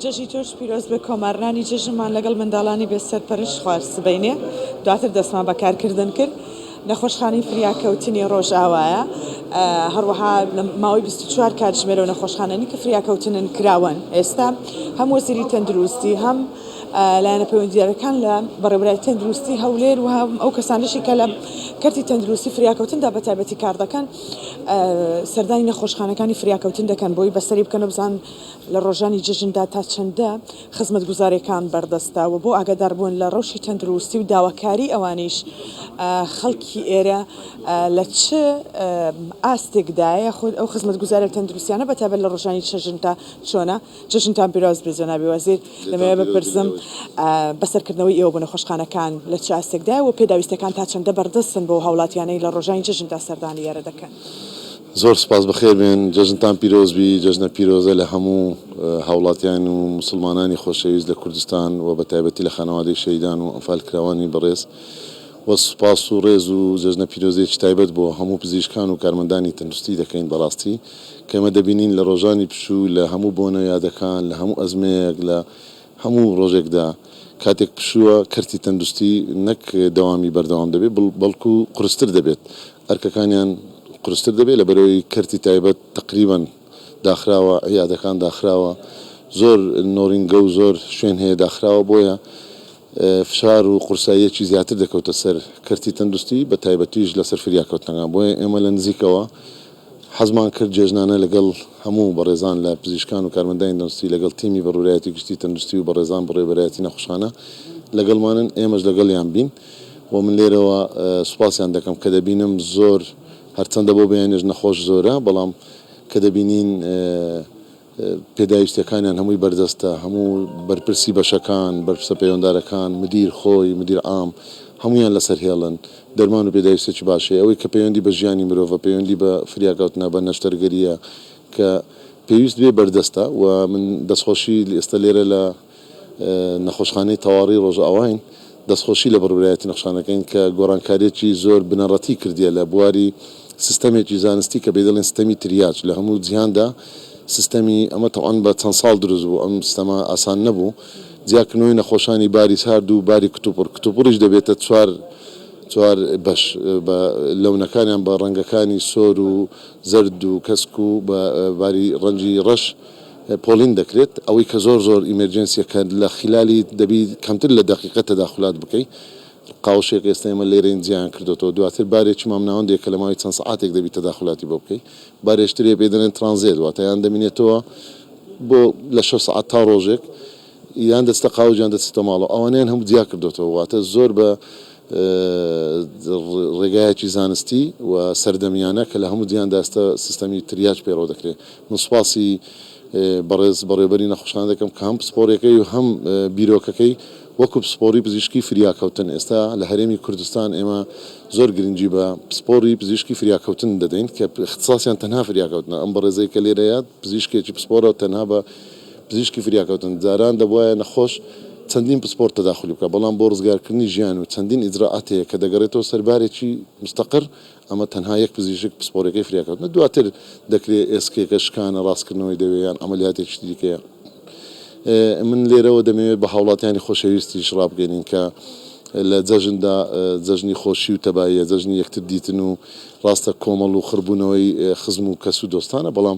جەژی تۆش پیرۆزبێ کۆمارنانی جەژنمان لەگەڵ منداڵانی بێ سەرپەرش خوار سبەینێ دواتر دەستمان بە کارکردن کرد نەخۆشخانەی فریاکەوتنی ڕۆژئاوایە هەروەها ماوەی 24 کاتژمێرە و نەخۆشخانەنی کە فریاکەوتنن کراوەن ئێستا هەم وەزیری تەندروستی هەم لایەنە پەیوەندیارەکان لە بەڕێوبەرای تەندروستی هەولێر و هەم ئەو کەسانشی کە لە کەرتی تەندروستی فریاکەوتندا بە تایبەتی کار دەکەن سەردانی نەخۆشخانەکانی فریاکەوتن دەکەن بۆی بەسەری بکەن و بزان لە ڕۆژانی جەژندا تا چەندە خزمەتگوزاریەکان بەردەستە و بۆ ئاگاداربوون لە ڕەوشی تەندروستی و داواکاری ئەوانیش خەڵکی ئێرە لە چ ئاستێکدایە خود ئەو خزمەتگوزاریە تەندروستیانە بەتابەت لە ڕۆژانی چەژندا چۆنە. جەژنتان پیرۆز بێت جەنابی وەزیر، لەمەوێ بپرسم بە سەرکردنەوەی ئێوە بۆ نەخۆشخانەکان لە چ ئاستێکدایە و پێداویستیەکان تا چەندە بەردەستن بۆ ئەو هاوڵاتیانەی لە ڕۆژانی جەژندا سەردانی ئێرە دەکەن؟ زۆر سوپاس بەخێر بێن، جەژنتان پیرۆز بی، جەژنە پیرۆزە لە هەموو هاوڵاتیان و موسڵمانانی خۆشەویست لە کوردستان و بە تایبەتی لە خانەوادەی شەهیدان و ئەنفالکراوانی بەڕێز و سوپاس و ڕێز و جەژنە پیرۆزیەکی تایبەت بۆ هەموو پزیشکان و کارمەندانی تەندروستی دەکەین بەڕاستی کە ئێمە دەبینین لە ڕۆژانی پشوو لە هەموو بۆنە و یادەکان، لە هەموو ئەزمەیەک، لە هەموو ڕۆژێکدا، کاتێک پشووە، کەرتی تەندروستی نەک دەوامی بەردەوام دەبێت، بەڵکو قورستر دەبێت، ئەرکەکانیان قورستر دەبێت، لەبەرئەوەی کەرتی تایبەت تەقریبا داخراوە، عیادەکان داخراوە، زۆر نۆرینگە و زۆر شوێن هەیە داخراوە، بۆیە فشار و قورساییەکی زیاتر دەکەوتە سەر کەرتی تەندروستی، بەتایبەتیش لەسەر فریاکەوتنەکان، بۆیە ئێمە لە نزیکەوە. حەزمان کرد جێژنانە لەگەڵ هەموو بەڕێزان لە پزیشکان و کارمەندانی دەنستی لەگەڵ تیمی بەڕورایەتی گشتی تەندروستی و بەڕێزان بەڕێوەبەرایەتی نەخوشخانە لەگەڵمانن ئێمەش لەگەڵیان بین و من لێرەوە سوپاسیان دەکەم کە دەبینم زۆر هەرچەندە بۆ بەیانیش نەخۆش زۆرە بەڵام کە دەبینین پێداویستیەکانیان هەمووی بەردەستە، هەموو بەرپرسی بەشەکان، بەرپرسە پەیوەندارەکان، مدیر خۆی، مدیر عام، هەموویان لەسەر هێڵن، دەرمان و پێداویستێکی باش هەیە، ئەوەی کە پەیوەندی بە ژیانی مرۆڤە، پەیوەندی بە فریاکەوتنە، بە نەشتەرگەرییە کە پێویست بێ بەردەستە و من دەستخۆشی ئێستا لێرە لە. نەخۆشخانەی تەواڕی ڕۆژئاواین دەستخۆشی لە بڕبرایەتی نەخشان دەکەین کە گۆڕانکاریەکی زۆر بنەڕەتی کردیە لە بواری سیستەمێکی زانستی کە پێی دەڵێن سیستەمی تریاج لە هەموو جیهاندا سیستەمی ئەمە تەبعەن بە چەند ساڵ دروست بوو ئەم سیستەمە ئاسان نەبوو جیاکردنەوەی نەخۆشانی باری سارد و باری کتوپڕ کتوپڕیش دەبێتە چوار چوار بەش بە لەونەکانیان بە ڕەنگەکانی سۆر و زەرد و کەسک و بە باری ڕەنگی ڕەش پۆلین دەکرێت ئەوەی کە زۆر زۆر ئیمێرجێنسیە کە لە خیلالی دەبی کەمتر لە دەقیقە تەداخولات بکەی قاوشێک ئێستە ئێمە لێرەین جیایان کردۆتەوە دواتر بارێکی مامناوەندێک کە لە ماوەی چەند سەعاتێک دەبی تەداخولاتی بۆ بکەی بارێشترێ پێی دەنێن ترانزێت واتە یان دەمینێتەوە بۆ لە شەش سەعات تا ڕۆژێک یان دەچتە قاوج یان دەچتە ماڵەوە ئەوانەیان هەموو جیا کردۆتەوە واتە زۆر بە ڕێگایەکی زانستی و سەردەمیانە کە لە هەموو جیان داستە سیستەمی تریاج پەیڕەو دەکرێ من سوپاسی بەڕێز بەڕێوبەری نەخۆشخانە دەکەم کە هەم پسپۆڕیەکەی و هەم بیرۆکەکەی وەکو پسپۆڕی پزیشکی فریاکەوتن ئێستا لە هەرێمی کوردستان ئێمە زۆر گرنگی بە پسپۆڕی پزیشکی فریاکەوتن دەدەین کە اختصاصیان تەنها فریاکەوتنە ئەم بەڕێزەی کە لێرەیە پزیشکێکی پسپۆڕە تەنها بە پزیشکی فریاکەوتن جاران دەبوایە نەخۆش چەندین پسپۆر تەداخولی بکات، بەڵام بۆ ڕزگارکردنی ژیان و چەندین ئیجرائات هەیە کە دەگەڕێتەوە سەر بارێکی مستەقر، ئەمە تەنها یەک پزیشک پسپۆرەکەی فریاکەوتنە، دواتر دەکرێت ئێسکێکە شکانە، ڕاستکردنەوەی دەوێ یان عەمەلیاتێکی دیکەیە. من لێرەوە دەمەوێت بە هاوڵاتیانی خۆشەویستیش ڕابگەینین کە لە جەژندا جەژنی خۆشی و تەباییە، جەژنی یەکتر دیتن و ڕاستە کۆمەڵ و خڕبوونەوەی خزم و کەس و دۆستانە، بەڵام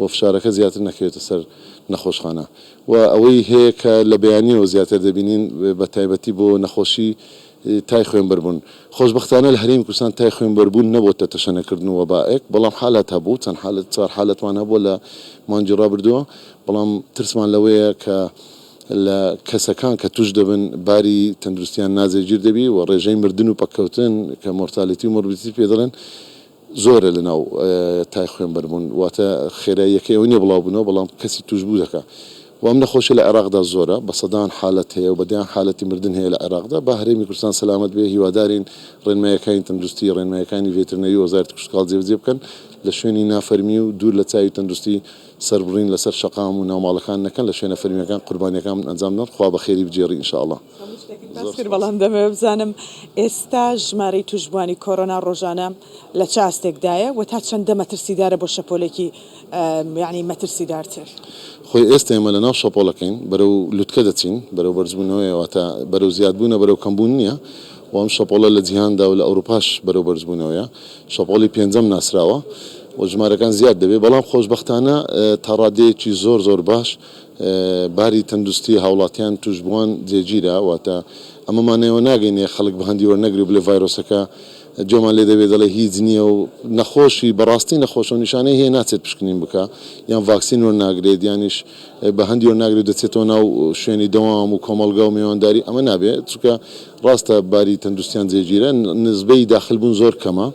و فشارەکە زیاتر نەکەوێتە سەر نەخۆشخانە و ئەوەی هەیە کە لە بەیانیەوە زیاتر دەبینین بە تایبەتی بۆ نەخۆشی تای خوێنبەربوون خۆشبەختانە لە هەرێمی کوردستان تای خوێنبەربوون نەبۆتە تەشەنەکردن و وەبائێک بەڵام حالات هەبوو چەند حالەت چوار حالەتمان هەبووە لە مانگی ڕابردووە بەڵام ترسمان لەوەیە کە لە کەسەکان کە توش دەبن باری تەندروستیان ناجێگیر دەبی و ڕێژەی مردن و پەککەوتن کە مۆرتالێتی و مۆربیدیتی پێ دەڵێن زۆرە لەناو تای خوێنبەر بوون واتە خێراییەکەی ئەوە نیە بڵاو بنەوە بەڵام کەسی توشبوو دەکا و ئەم نەخۆشیە لە عێراقدا زۆرە بە سەدان حالەت هەیە و بە دەیان حالەتی مردن هەیە لە عێراقدا با هەرێمی کوردستان سەلامەت بێ هیوادارین ڕێنماییەکانی تەندروستی ڕێنماییەکانی ڤێترنەری وەزارەتی کشتوکاڵ جێبەجێ بکەن لە شوێنی نافەرمی و دوور لە چاوی تەندروستی سەربڕین لەسەر شەقام و ناوماڵەکان نەکەن لە شوێنە فەرمیەکان قوربانیەکان ئەنجام دەن خوا بەخێری بگێڕی ان شاء اللە. هەموو شتێکم باس کرد بەڵام دەمەوێت بزانم ئێستا ژمارەی تووشبووانی کۆرۆنا ڕۆژانە لە چ ئاستێکدایە و تا چەندە مەترسیدارە بۆ شەپۆلێکی یانی مەترسیدارتر؟ خۆی ئێستا ئێمە لەناو شەپۆڵەکەین بەرەو لوتکە دەچین بەرەو بەرزبوونەوەیە واتە بەرەو زیادبوونە بەرەو کەمبوون نییە و ئەم شەپۆڵە لە جیهاندا و لە ئەوروپاش بەرەو بەرزبوونەوەیە شەپۆڵی پێنجەم ناسراوە و ژمارەکان زیاد دەبێت بەڵام خۆشبەختانە تا ڕادەیەکی زۆر زۆر باش باری تەندوستی هاوڵاتیان توشبوان جێگیرە واتە ئەمە مانەوە ناگەینێ خەڵک بهەندی وەرنەگرێ بلێ ڤایرۆسەکە جۆمان لێ دەبێ دەڵێ هیچ نیە و نەخۆشی بەڕاستی نەخۆشە و نیشانەی هەیە ناچێت پشکنین بکا یان ڤاکسین وەرناگرێت یانیش بەهەندی وەرناگرێت دەچێتەوە ناو شوێنی دەوام و کۆمەڵگا و مێوانداری ئەمە نابێ چونکە ڕاستە باری تەندوستیان جێگیرە نزبەی داخل بون زۆر کەمە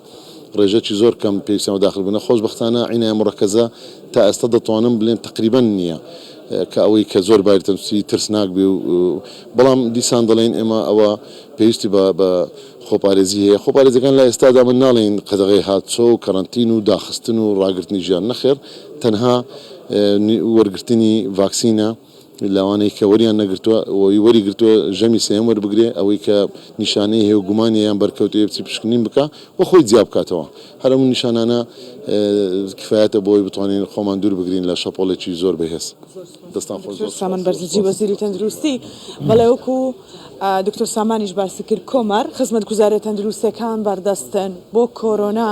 ڕێژەکی زۆر کەم پێویستیان بە داخل بونە خۆشبەختانە عینایە مڕەکەزە تا ئێستا دەتوانم بلێم تەقریبەن نییە کە ئەوەی کە زۆر باری تەندروستی ترسناک بێ و بەڵام دیسان دەڵێین ئێمە ئەوە پێویستی بە بە خۆپارێزی هەیە خۆپارێزەکان لە ئێستادا من ناڵێین قەدەغەی هاتچۆ و کەرەنتین و داخستن و ڕاگرتنی ژیان نەخێر تەنها وەرگرتنی ڤاکسینە. لەوانەی کە وەریان نەگرتووە و وەری گرتووە ژەمی سێیەم وەربگرێ، ئەوەی کە نیشانەی هەیە و گومانی یان بەرکەوتەی هەیە بچی پشکنین بکا و خۆی جیا بکاتەوە. هەر ئەم نیشانانە کفایەتە بۆ ئەوەی بتوانین خۆمان دوور بگرین لە شەپۆڵێکی زۆر بەهێز. دەستان خۆش زۆر سوپاس. دکتۆر سامان بەرزنجی وەزیری تەندروستی بەڵێ وەکو دکتۆر سامانیش باسی کرد کۆمار خزمەتگوزاریە تەندروستیەکان بەردەستن بۆ کۆرۆنا.